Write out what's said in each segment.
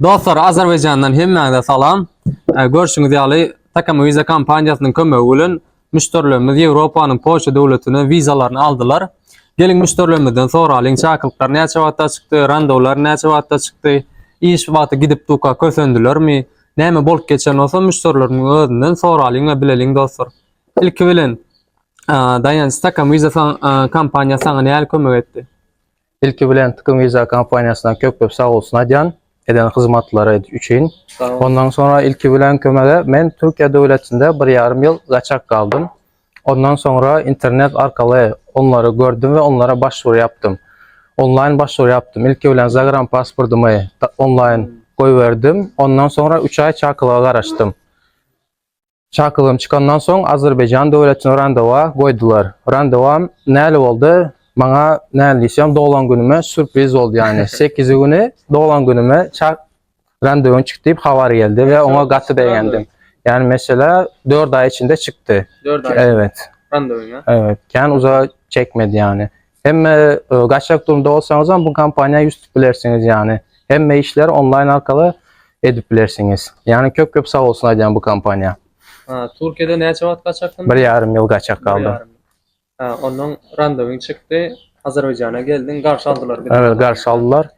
Dostlar Azerbaýjandan hemmäňize salam. Görşüňiz ýaly Takama Visa kompaniýasynyň kömegi bilen müşderilerimiz Ýewropanyň Polşa döwletine wizalaryny aldylar. Geliň müşderilerimizden soralyň çakylyklar näçe wagtda çykdy, randowlar näçe wagtda çykdy, iş wagty gidip duka kösendilermi, näme bolup geçen bolsa müşderilerimiň özünden soralyň we bileliň dostlar. Ilki bilen Daýanç Takama Visa kompaniýasy saňa nähili kömek etdi? Ilki bilen Tkm Visa kompaniýasyna köp-köp sag bolsun aýdýan, eden hyzmatlary üçin. Ondan soňra ilki bilen kömege men Türkiýe döwletinde bir ýarym ýyl gaçak galdym. Ondan soňra internet arkaly onlary gördüm we onlara başwur ýapdym. Onlaýn başwur ýapdym. Ilki bilen zagram pasportymy onlaýn goýberdim. Ondan soňra üç aý çakylyga garaşdym. Çakygym çykandan soň Azerbaýjan döwletine randewa goýdular. Randewam näle boldy? Maňa näle diýseň doglan günüme sürpriz boldy ýagny. Sekizi güni doglan günüme çak randewyň çykdy diýip habar geldi we oňa gaty begendim. Ýagny mesela dört aý içinde çykdy. Dört aý. Evet. Randewyňa. Evet. Kän uzaga çekmedi ýagny. Hem e, gaçak durumda bolsaňyz hem bu kompaniýa ýüz tutup bilersiňiz ýani. Hemme işleri onlaýn arkaly edip bilersiňiz. Ýani köp köp sag bolsun aýdýan bu kompaniýa. Ha, Türkiýede näçe wagt gaçakdym? Bir ýarym ýyl gaçak galdy. Ha, ondan randewyň çykdy. Azerbaýjana geldiň, garşy aldylar bizi. Evet, garşy aldylar.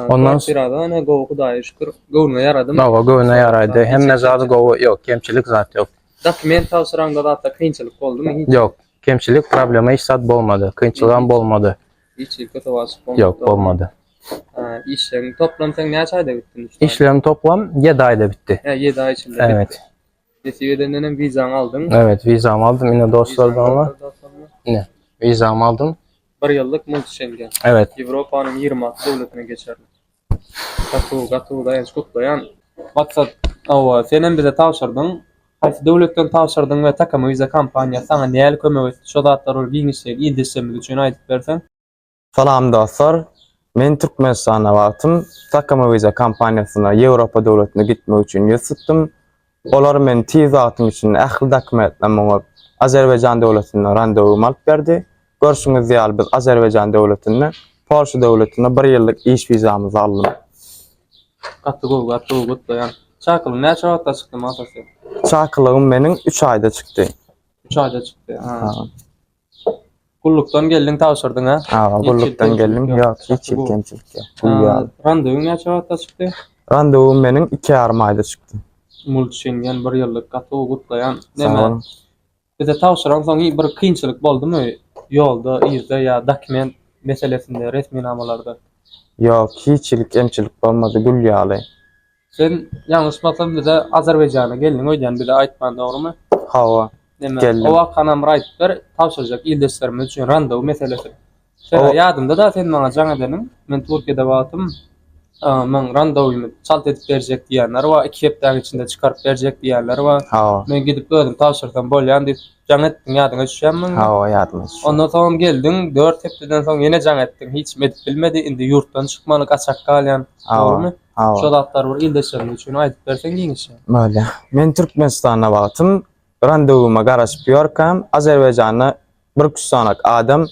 Ondan sirada ne gowy Hudaýa şükür göwnüme ýaradym. Gowy göwnüme ýaraýdy. Hemme zady gowy. Ýok, kemçilik zat ýok. Dokument tabşyraňda zatda kynçylyk boldumy? Ýok. Kemçilik, problema hiç zat bolmady. Kynçylygam bolmady. Hiç hili köte waçyk bolmady. Ýok, bolmady. Işleň toplam sen näçe aýda bitdi? Işleň toplam 7 aýda bitdi. Hä, 7 aý içinde bitdi. Evet. Nesip edenden hem wizaňy aldyň. Evet, wizamy aldym. Ine dostlardan ol. Ine, wizamy aldym. 1 ýyllyk multi şengen. Evet. Ýewropanyň 26 döwletine geçerli. Gatuw gatuw daýanç gutlaýan. Maksat hawa senem bize tabşyrdyň haýsy döwletden tabşyrdyň we Takama Visa kompaniýasy saňa nähili kömek etdi şo zatlar bir giňişjeň ildeşlerimiz üçin aýdyp berseň. Salam dostlar. Men Türkmenistanda wagtym Takama Visa kompaniýasyna Ýewropa döwletine gitmek üçin ýüz tutdum. Olar men tiz wagtyň içinde ähli dokumentlerimi oňup, Azerbaýjan döwletinde randewum alyp berdi. Görşüňiz ýaly, biz Azerbaýjan döwletinde, Polşa döwletinde bir ýyllyk iş wizamyzy aldym. Gaty gowy, gaty gowy, gutlaýan. Çakylygyň näçe wagtda çykdy, Mata sen? Çakylygym meniň üç aýda çykdy. Üç aýda çykdy, ha. Gullukdan geldiň tabşyrdyň ha? Aga gullukdan geldim. Ýok, hiç ýyl kemçilik ýok. Gul ýaly. Randewyň näçe wagtda çykdy? Randewum meniň iki ýarym aýda çykdy. Mulç Şengen bir ýyllyk gaty gowy gutlaýan. Näme? Bize tabşyran soň bir kynçylyk boldumy? Ýolda, yzda ýa dokument meselesinde, resminamalarda? Ýok, hiç ýyl kemçilik bolmady. Gül ýaly. Sen ýalňyşmasam bize Azerbaýjana geldiň öýdýän bize aýtman dogrymy? Hawa. Neme o wakanam bir aýdyp ber tabşyrjak ildeşlerimiz üçin randaw meselesi. Şeýle ýadymda da sen maňa jaň edeniň men Türkiýede wagtym maň randawymy çalt edip berjek diýenler bar iki hepdäň içinde çykaryp berjek diýenler bar. Men gidip özüm tabşyrsam bolýan diýip jaň etdiň ýadyňa düşýänmi? Hawa ýadyma düşýär. Ondan soňam geldiň dört hepdeden soň ýene jaň etdiň hiçim edip bilmedi indi ýurtdan çykmaly gaçak galýan dogrymy? Hawa. Şo zatlary bir ildeşlerimiz üçin aýdyp berseň giňişje. Bolýar. Men Türkmenistanda wagtym randewuma garaşyp ýörkäm, Azerbaýjanda bir küssanak adam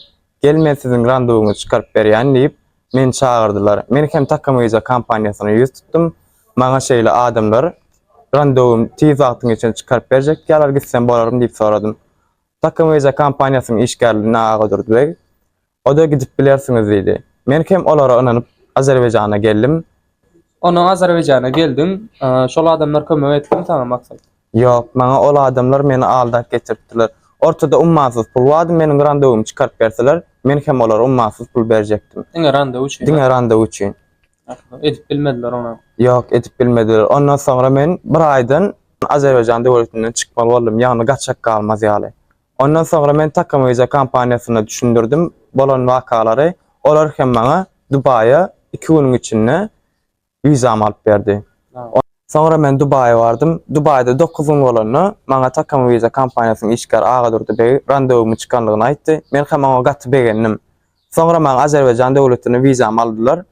Gel men siziň randewyňyzy çykaryp berýän diýip, meni çagyrdylar. Men hem Takamyza kompaniýasyna ýüz tutdum. Maňa şeýle adamlar randewum tiz wagtyň içinde çykaryp berjek diýýärler, gitsem bolarmy diýip soradym. Takamyza kompaniýasynyň işgärlerinden Agadurdy beg O-da gidip bilersiňiz diýdi. Men hem olara ynanyp, Azerbaýjana geldim. Onsoň Azerbaýjana geldiň. Şol adamlar kömek etdimi saňa, Maksat? Ýok, maňa ol adamlar meni aldap getiripdirler. Ortada ummasyz pul bardy, meniň randewymy çykaryp berseler, men hem olara ummasyz pul berjekdim. Diňe randew üçin? Diňe randew üçin. Edip bilmediler onam? Ýok, edip bilmediler. Ondan soňra men bir aýdan Azerbaýjan döwletinden çykmaly boldum, ýagny gaçak galmaz ýaly. Ondan soňra men Takamyza kompaniýasyna düşündirdim bolan wakalary, olar hem maňa Dubaýa iki günüň içinde wizamy alyp berdi. Soňra men Dubaýa bardym. Dubaýda dokuz gün bolanda, maňa Takamyza kompaniýasynyň işgäri Agadurdy beg randewumy çykandygyny aýtdy. Men hem oňa gaty begendim. Soňra maňa Azerbaýjan döwletine wizamy aldylar.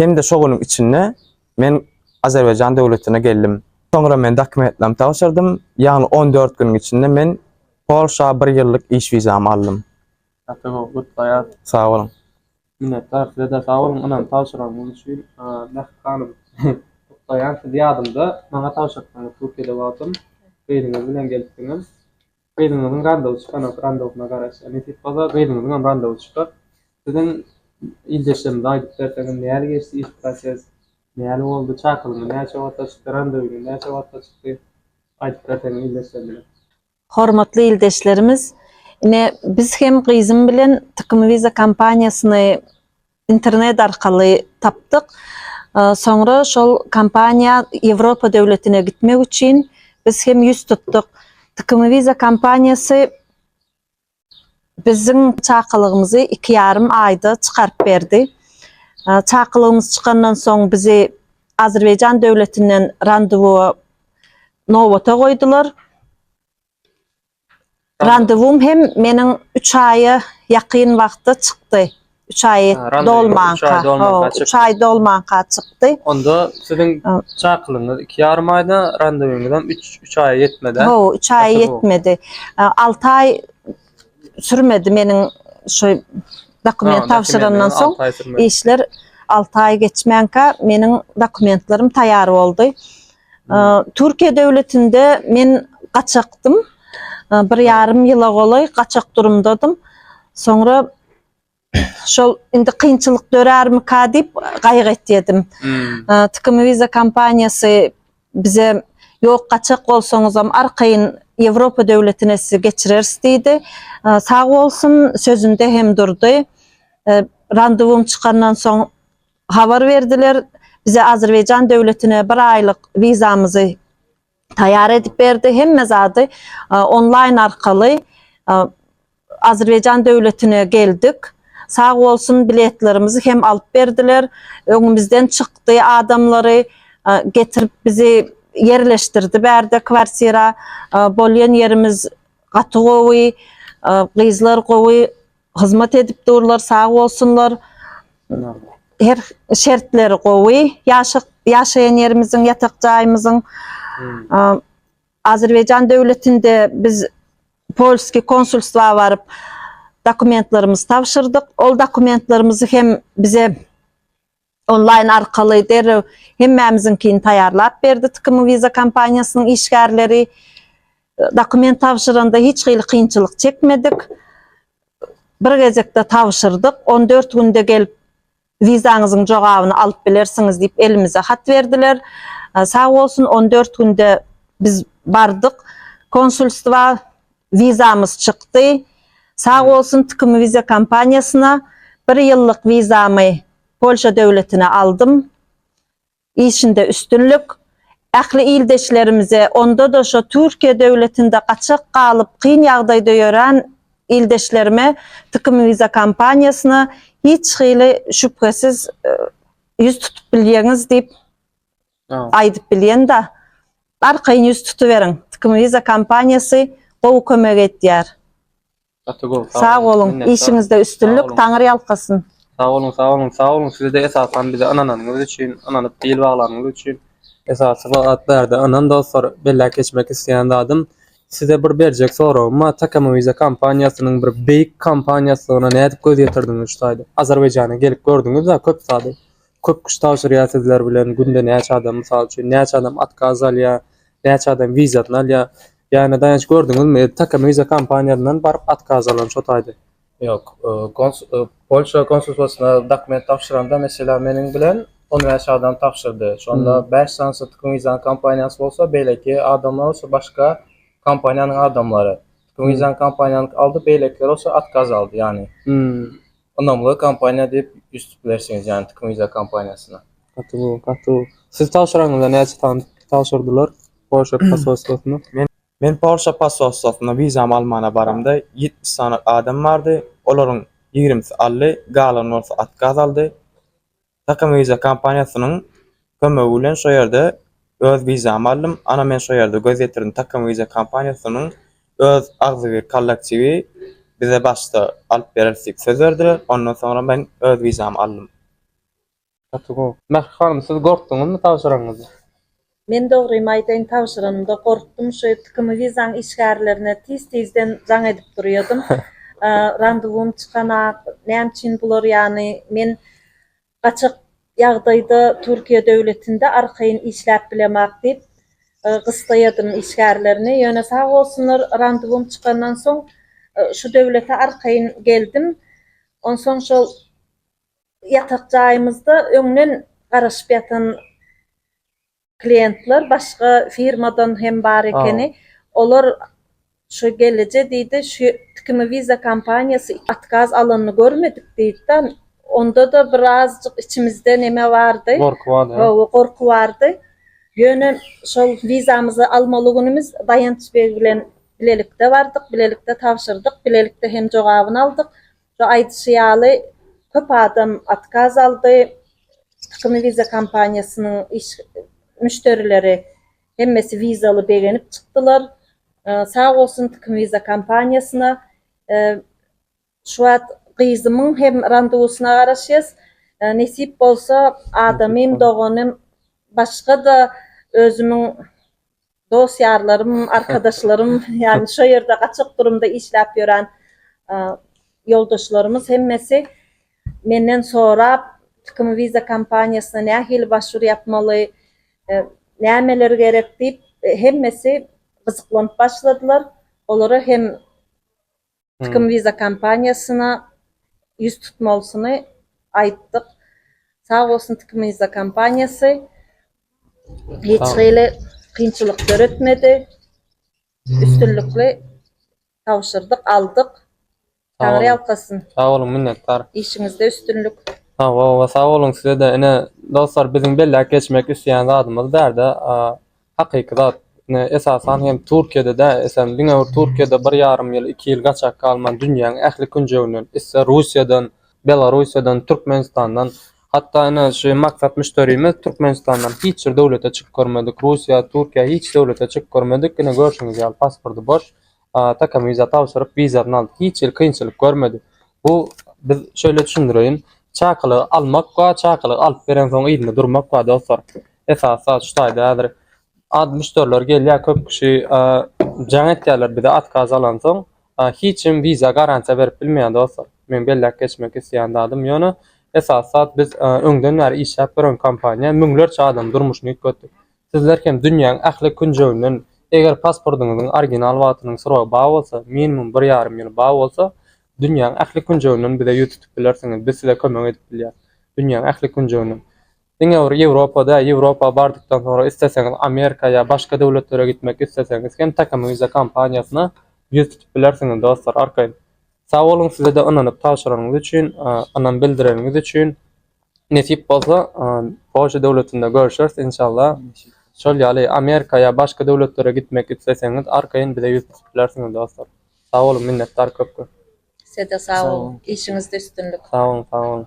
Hem-de şo günüň içinde men Azerbaýjan döwletine geldim. Soňra men dokumentlerimi tabşyrdym, ýagny on dört günüň içinde men Polşa bir ýyllyk iş wizamy aldym. Gaty gowy, gutlaýas. Sag boluň. Minnetdar, size-de sag boluň ynam tabşyranyňyz üçin. Mähri hanym, gutlaýan sizi ýadymda maňa tabşyrtdyňyz Türkiýede wagtym, gyzyňyz bilen gelipdiňiz. Gyzyňyzyň randawy çykanok randawsyna garaşýa nesip bolsa gyzyňyzyňam randawy çykar siziň ildeşlerimize aýdyp berseňiz näli geçdi iş proses näli boldy çakylygyňyz näçe wagtda çykdy randawyňyz näçe wagtda çykdy aýdyp berseňiz ildeşlerimize. Hormatly ildeşlerimiz ine biz hem gyzym bilen Tykymviza kompaniýasyny Internet arkaly tapdyk. Soňra şol kompaniýa Ýewropa döwletine gitmek üçin biz hem ýüz tutduk. Tcmoviza kompaniýasy biziň çakylygymyzy iki ýarym aýda çykaryp berdi. Çakylygymyz çykandan soň bizi Azerbaýjan döwletinden randewua nobata goýdular. Randewum hem meniň üç aýa ýakyn wagtda çykdy. Üç aý dolmanka. Üç aý dolmanka çykdy. Onda siziň çakylygyňyz iki ýarym aýda, randewuňyzam üç aýa ýetmedi-ä? Hawa, üç aýa ýetmedi. Alty aý sürmedi meniň şu dokument tabşyrandan soň. Işler alty aý geçmänkä meniň dokumentlerim taýýar boldy. Türkiýe döwletinde men gaçakdym. Bir ýarym ýyla golaý gaçak durumdadym. Soňra şol indi kynçylyk dörärmika diýip gaýgy etýedim. Tikim Visa kompaniýasy bize ýok gaçak bolsaňyzam arkaýyn Ýewropa döwletine sizi geçireris diýdi. Sag bolsun sözünde hem durdy. Randewum çykandan soň Habar berdiler, bize Azerbaýjan döwletine bir aýlyk wizamyzy taýýar edip berdi, hemme zady onlaýn arkaly Azerbaýjan döwletine geldik. Sag bolsun biletlerimizi hem alyp berdiler, öňümizden çykdy adamlary getirip bizi ýerleşdirdi bärde kwartira, bolýan ýerimiz gaty gowy, gyzlar gowy Hyzmat edip durlar sag bolsunlar. Her şertleri gowy. Ýaşak ýaşaýan ýerimiziň, ýatak jaýymyzyň Azerbaýjan döwletinde biz polskiý konsulstwa baryp dokumentlerimizi tabşyrdyk. Ol dokumentlerimizi hem bize Onlaýn arkaly derrew hemmämiziňkini taýýarlap berdi Tkmi Visa kompaniýasynyň işgärleri. Dokument tabşyranda hiç hili kynçylyk çekmedik. Bir gezekde tabşyrdyk. On dört günde gelip wizaňyzyň jogabyny alyp bilersiňiz diýip elimize hat berdiler. Sag bolsun on dört günde biz bardyk konsulstwa Wizamyz çykdy. Sag bolsun Tkim Viza kompaniýasyna bir ýyllyk wizamy Polşa döwletine aldym. Işinde üstünlik. Ähli ildeşlerimize, onda-da şo Türkiýe döwletinde gaçak galyp, kyn ýagdaýda ýören ildeşlerime Tkim Viza kompaniýasyna hiç hili şübhesiz ýüz tutup bilýäňiz diýip Aýdyp bilýän da. Arkaýyn ýüz tutuberiň. Tkmwiza kompaniýasy gowy kömek edýär. Gaty gowy sag Sag boluň. Minnetdar. Işiňizde üstünlik. Sag boluň. Taňyr ýalkasyn. Sag boluň sag boluň sag boluň sizede esasan bize ynananyňyz üçin ynanyp bil baglanyňyz üçin. Esasy zat bärde ynam dostlar belläp geçmek isleýän zadym size bir berjek soragym bar Tkmwiza kompaniýasynyň bir beýik kompaniýasydygyna nädip göz ýetirdiňiz şu taýda Azerbaýjana gelip gördüňizda köp zady Köp kişi tabşyrýar sizler bilen günde näçe adam mysal üçin näçe adam otkaz alýar näçe adam wizasyny alýar ýagny daýanç gördüňizmi takm wiza kompaniýasyndan baryp otkaz alan şo taýda. Ýok, Polşa konsulstwasyna dokument tabşyranda meselem meniň bilen on bäş adam tabşyrdy şonda bäş sanysy tkm wizanyň kompaniýasy bolsa beýleki adamlar bolsa başga kompaniýanyň adamlary tkm wizanyň kompaniýanyňky aldy beýlekiler bolsa otkaz aldy ýagny Ynamly kompaniýa diýip üýtdüp bilersiňiz, ýagny Tcmuiza kompaniýasyna. Gaty gowy, gaty gowy. Siz tabşyranyňyzda näçe sany tabşyrdylar Polşa posolstwosyna? Men Polşa posolstwosyna wizamy almana baramda ýetmiş sany adam bardy, olaryň ýigrimisi aldy, galan bolsa otkaz aldy. Takym Visa kompaniýasynyň kömegi bilen şo ýerde öz wizamy aldym. Ana men şo ýerde göz ýetirdim. Takym Visa kompaniýasynyň öz agzybir kollektiwi bize başda alyp bereris diýip söz berdiler. Ondan soňra men öz wizamy aldym. Gaty gowy. Mähri hanym siz gorkdyňyzmy tabşyragyňyzy? Men dogrymy aýdaýyn tabşyranymda gorkdum şu tkm wizaň işgärlerine tiz tizden jaň edip durýadym randewum çykanak näme üçin bular ýany men gaçak ýagdaýda turkiýa döwletinde arkaýyn işläp bilemak diýip gystaýadym işgärlerini ýöne sag bolsunlar randewum çykandan soň şu döwlete arkaýyn geldim onsoň şol Ýatak jaýymyzda öňden garaşyp ýatan kliýentler başga firmadan hem bar ekeni. Olar şu gelije diýdi, şu tikimi Visa kompaniýasy otkaz alanyny görmedik diýdi-de, onda-da bir azajyk içimizde neme bardy. Gorky bardy. Hawa, gorky bardy. Ýöne şol wizamyzy almaly günümiz Daýanç beg bilen bilelikde bardyk, bilelikde tabşyrdyk, bilelikde hem jogabyny aldyk. Şu aýdyşy ýaly, köp adam otkaz aldy. Tykmy Visa kompaniýasynyň iş müşderileri hemmesi vizaly begenip çykdylar. Sag bolsun Tykmy Visa kompaniýasyna. Şu wagt gyzymyň hem randewysyna garaşýas. Nesip bolsa adamym, doganym, başga-da özümiň Dost ýarlarym, arkadaşlarym, ýagny şo ýerde gaçak durumda işläp ýören ýoldaşlarymyz hemmesi menden sorap, Tikim Visa kompaniýasyna nähili başwur ýapmaly, nämeler gerek diýip hemmesi gyzyklanyp başladylar. Olara hem Tikim Visa kompaniýasyna ýüz tutmalysyny aýtdyk. Sag bolsun Tikim Visa kompaniýasy. Hiç hili kynçylyk döretmedi. Üstünlikli tabşyrdyk, aldyk. Taňry ýalkasyn. Sag boluň, minnetdar. Işiňizde üstünlik. Hawa, hawa, sag boluň size-de. Ine, dostlar, biziň belläp geçmek isleýän zadymyz bärde Hakyky zat, esasan hem Türkiýede däl, eýsem, diňe bir Türkiýede bir ýarym ýyl, iki ýyl gaçak galman dünýäň ähli künjeginden, ister Russiýadan, Belarussiýadan, Türkmenistandan, hatda ine şu maksat müşderimiz Türkmenistandan hiç bir döwlete çykyp görmedik, Russiýa, Türkiýä hiç döwlete çykyp görmedik, ine görşüňiz ýaly pasporty boş, Atakam wiza tabşyryp, wizasyny aldy. Hiç hili kynçylyk görmedi. Bu, biz şeýle düşündireýin, çakylygy almak we çakylygy alyp berensoň yzynda durmak we dostlar. Esasy zat şu taýda häzir az müşderiler gelýär, köp kişi jaň etýärler bize otkaz alansoň. Hiç kim wiza garantiýa berip bilmeýär dostlar. Meň belläp geçmek isleýän zadym ýöne esasy zat biz öňden bäri işläp ýören kompaniýa müňlerçe adamyň durmuşyny üýtgetdik. Sizler hem dünýäň ähli künjeginden, eger pasportyňyzyň original wagtynyň srogy bar bolsa, minimum bir ýarym ýyly bar bolsa, dünýäň ähli künjeginden bize ýüz tutup bilersiňiz, biz size kömek edip bilýäs. Dünýäň ähli künjeginden. Diňe bir Ýewropa däl, Ýewropa bardykdan soňra isleseňiz Amerika ýa başga döwletlere gitmek isleseňiz hem Takam Visa kompaniýasyna ýüz tutup bilersiňiz dostlar arkaýyn. Sag boluň sizede ynanyp tabşyranyňyz üçin, ynam bildireniňiz üçin. Nesip bolsa Polşa döwletinde görüşeris inşallah. Şol ýaly Amerika ýa başga döwletlere gitmek isleseňiz arkaýyn bize ýüz tutup bilersiňiz dostlar. Sag boluň minnetdar köp köp. Sizede sag boluň işiňizde üstünlik. Sag boluň sag boluň.